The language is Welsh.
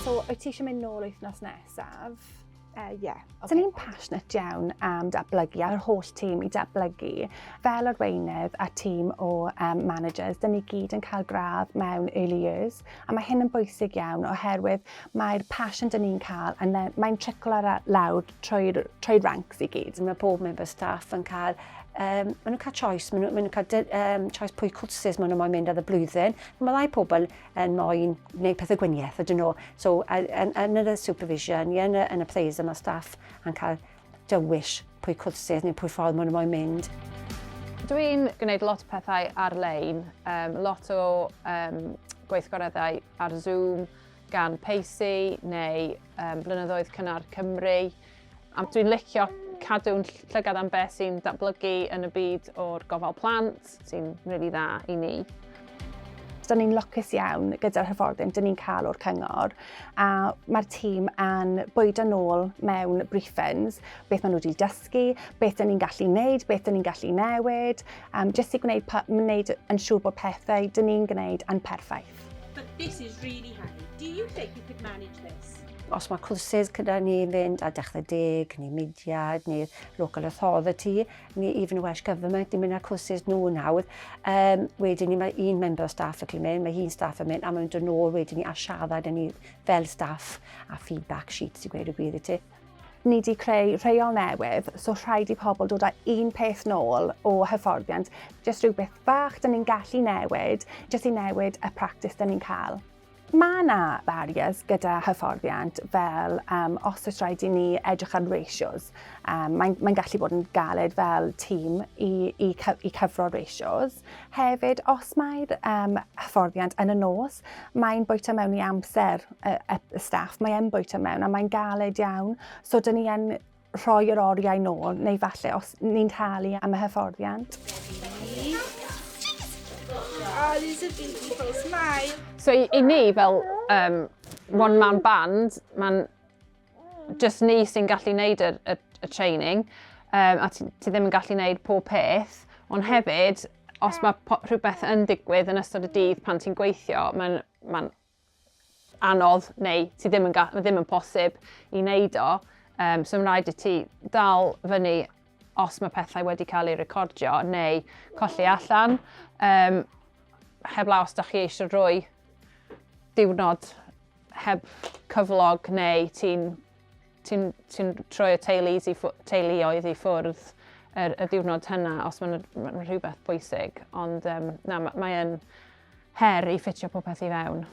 So, wyt ti eisiau mynd nôl wythnos nesaf? Ie. Uh, yeah. okay. So ni'n passionate iawn am datblygu a'r holl tîm i datblygu. Fel arweinydd a tîm o um, managers, dyn ni gyd yn cael gradd mewn early years, a mae hyn yn bwysig iawn oherwydd mae'r passion dyn ni'n cael, a mae'n triclo lawr trwy'r trwy ranks i gyd. Mae pob member staff yn cael, um, maen nhw'n cael choice, maen nhw'n nhw cael um, choice pwy cwrsus maen nhw'n moyn mynd ar y blwyddyn. Mae ddau pobl yn moyn gwneud pethau gwiniaeth ydyn nhw. So, yn, yn y supervision, yn y, yn y plays yma staff yn cael dywys pwy cwrsus neu pwy ffordd maen nhw'n moyn mynd. Dwi'n gwneud lot o pethau ar-lein, um, lot o um, gweithgoreddau ar Zoom, gan Pacey neu um, Blynyddoedd Cynnar Cymru. A dwi'n licio cadw'n llygad am beth sy'n datblygu yn y byd o'r gofal plant, sy'n rili really dda i ni. Da ni'n lwcus iawn gyda'r hyfforddin dyn ni'n cael o'r cyngor a mae'r tîm yn bwydo nôl mewn briefings, beth maen nhw wedi dysgu, beth dyn ni'n gallu wneud, beth dyn ni'n gallu newid, um, jyst i gwneud, gwneud yn siŵr bod pethau dyn ni'n gwneud yn perffaith. But this is really handy. Do you think you could manage this? Os mae cwrsys gyda ni fynd a dechrau deg, neu mudiad, neu local authority, neu even Welsh Government, ni'n mynd â'r cwrsys nhw nawr. Um, wedyn ni, mae un member o staff yn mynd, mae un staff yn mynd, a mae'n dod nôl wedyn ni a siarad yn ni fel staff a feedback sheets i gweud y gwir i ti. ni wedi creu rheol newydd, so rhaid i pobl dod â un peth nôl o hyfforddiant, jyst rhywbeth fach dyn ni'n gallu newid, jyst i newid y practis dyn ni'n cael. Mae yna barriers gyda hyfforddiant fel um, os oes rhaid i ni edrych ar ratios. Um, Mae'n mae gallu bod yn galed fel tîm i, i, i cyfro ratios. Hefyd, os mae'r um, hyfforddiant yn y nos, mae'n bwyta mewn i amser y, y staff, mae'n bwyta mewn a mae'n galed iawn. So, dyn ni yn rhoi yr oriau nôl, neu falle os ni'n talu am y hyfforddiant. So i, i ni fel um, one man band, mae'n just ni sy'n gallu wneud y, y, y training, um, a ti, ti ddim yn gallu wneud pob peth, ond hefyd, os mae rhywbeth yn digwydd yn ystod y dydd pan ti'n gweithio, mae'n ma anodd neu ti ddim yn, ddim yn posib i wneud o. Um, so mae'n rhaid i ti dal fyny os mae pethau wedi cael eu recordio neu colli allan. Um, heblaw os da chi eisiau rhoi diwrnod heb cyflog neu ti'n ti ti troi y teulu i teuluoedd i ffwrdd yr, y diwrnod hynna os mae'n ma rhywbeth bwysig. Ond um, na, mae'n her i ffitio popeth i fewn.